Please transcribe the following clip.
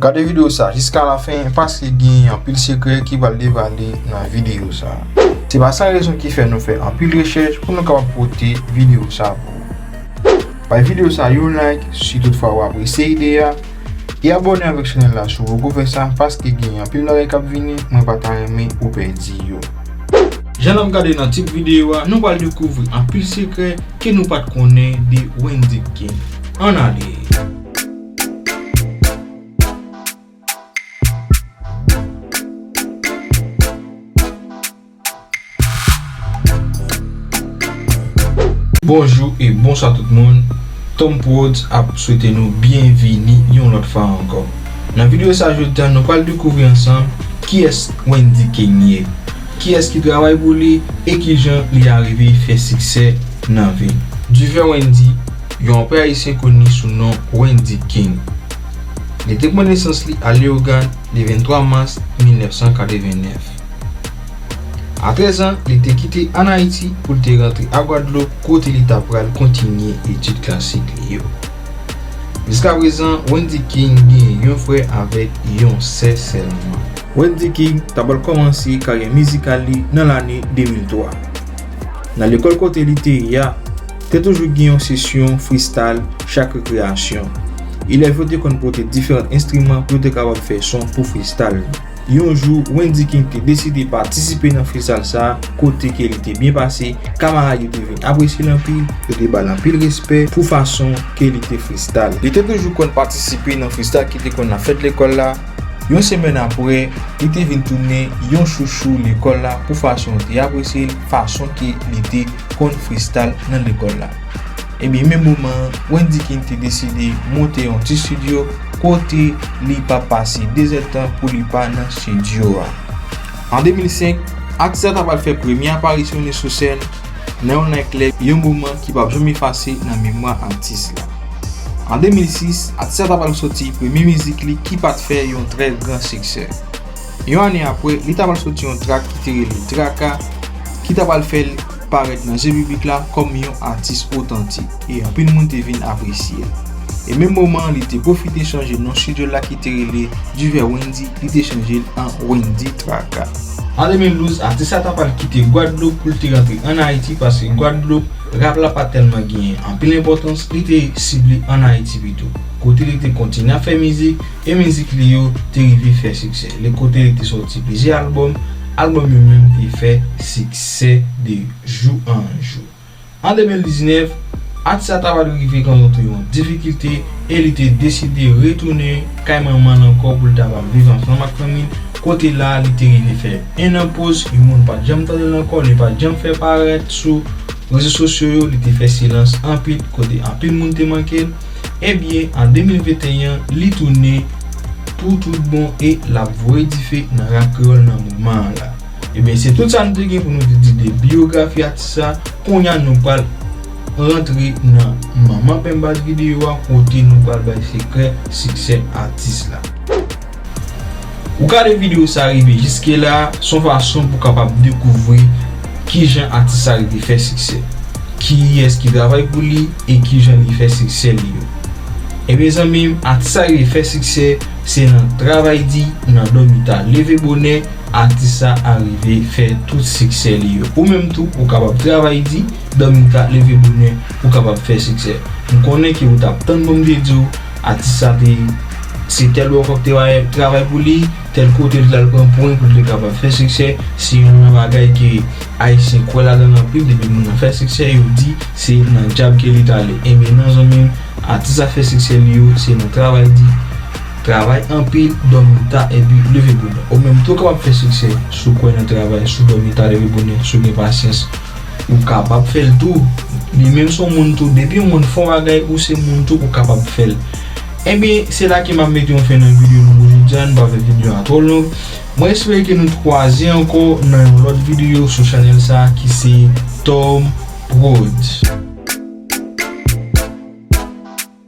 Gade video sa jiska la fen paske gen anpil sekrè ki pral devale nan video sa. Se pa san rezon ki fè nou fè anpil rechèch pou nou kapab pote video sa pou ou. Bay video sa yon like si tout fwa ou apresye ide a, e abòne avèk chanèl la si ou poko fè sa paske gen anpil bagay kap vini mwen pa ta renmen ou pèdi yo. Jan nap gade nan tit video a nou pral dekouvri anpil sekrè ke nou pat konnen de Wendy King. Ann ale! Bonjou e bonswa tout moun, Tom Prodz ap swete nou byenvini yon lòt fwa ankò. Nan video sa jodi a nou pral dekouvri ansanm kiyès Wendy King ye. Kiyès ki travay pou li e kijan li arive fè siksè nan vi. Duver Wendy, yon rapè ayisyen koni sou non Wendy King. Li te pran nesans li a Leyogàn le 23 mas 1989. A 13 an, li te kite an Ayiti pou l te rantre a Gwadloup kote li ta pral kontinye etid klasik li yo. Jiskaprezan, Wendy King gen yon frè avèk yon sè sèlman. Wendyy King ta pral kòmanse karyè mizikal li nan lane 2003. Nan lekòl kote li te ye a, te toujou gen yon sesyon freestyle chak rekreyasyon. Elèv yo te konn pote diferant enstriman pou yo te kapab fè son pou freestyle. Yon jou, Wendyy King te deside patisipe nan freestyle sa a kote ke li te byen pase, kamarad yo te vin apresye l anpil, yo te ba l anpil respè pou fason ke li te freestyle. Li te toujou konn patisipe nan freestyle ki te konn ap fèt lekòl la. Yon semèn apre, li te vin tounen yon chouchou lekòl la pou fason yo te apresye l, fason ke li te konn fristal nan lekòl la. Ebyen menm moman an, Wendy King te deside monte yon ti stidyo kote li p ap pase dezèdtan pou li pa nan stidyo a. An 2005, atis la ta pral fè premye aparisyon li sou sèn, Nan yon lè klè, yon moman ki pap janm efase nan memwa atis la. An 2006, atis la ta pral soti premye mizik li ki pat fè yon trè gran siksè. Yon ane apre, li ta pral soti yon trak ki te rele Traka ki ta pral fè l parèt nan je piblik la kòm yon atis otantik. e anpil moun te vin apresye l. E menm moman an li te pwofite chanje non stidyo l la ki te rele Duvet Wendy li te chanje l an Wendy Traka. An 2012, atis la ta pral kite Gwadloup pou l te rantre ann Ayiti paske Gwadloup, rap la pa tèlman genyen anpil enpòtans, li te sible ann Ayiti pito, kote li te kontinye ap fè mizik e mizik li yo te rive fè siksè le kote li te sòti plizyè albòm, albòm yo menm te fè siksè de jou an jou. An 2019, atis la ta va dwe rive rankontre yon difikilte e li te deside retounen kay manman l ankò pou l ta va viv ansanm ak fanmi l, kote la li te rive fè 1 an poz e moun pat janm tande l ankò, li pat janm fè parèt sou rezo sosyo yo, li te fè silans anpil kote anpil moun te manke l, ebyen an 2021 li tounen pou tout bon e lap voye dife nan rap kreyòl nan moman an la. Ebyen se tout sa nou te gen pou nou te di de biyografi atis sa, kounya nou pral rantre nan manman penbaz videyo a kote nou pral bay sekrè siksè atis la. Ou gade videyo sa rive jiske la, son fason pou kapab dekouvri kijan atis sa rive fè siksè, kiyès ki travay pou li e kijan li fè siksè li yo. Ebyen zanmim atis sa rive fè siksè se nan travay di, nan dòmi ta, leve bonè, Atis sa arive fè tout siksè li yo. Ou menm tou ou kapab travay di, dòmi ta, leve bonè ou kapab fè siksè. M konnen ke ou tap tann pou m te di w atis sa te se tèl bò fòk te bay travay pou li, tèl kote li t al pran pwen pou l te kapab fè siksè, se youn nan bagay ke ayisyen kwè ladan l anpil depi moun nan fè siksè yo di se nan djab ke li t ale. Enben nan zanmi m atis sa fè siksè li yo se nan travay di. Travay anpil, dòmi ta epi leve bonè. Ou menm tou kapab fè siksè si w kwè nan travay, si w dòmi ta, leve bonè, si w gen pasyans. Ou kapab fè l tou. Li menm se yon moun tou. Depi yon moun fè yon bagay, ou se moun tou, ou kapab fè l. Enben, se la ke m ap mete yon fen nan videyo nou pou jodi a. N pa fè videyo a twò long. Mwen espere ke nou t kwaze ankò nan yon lòt videyo sou chanèl sa a ki se Tom Prodz.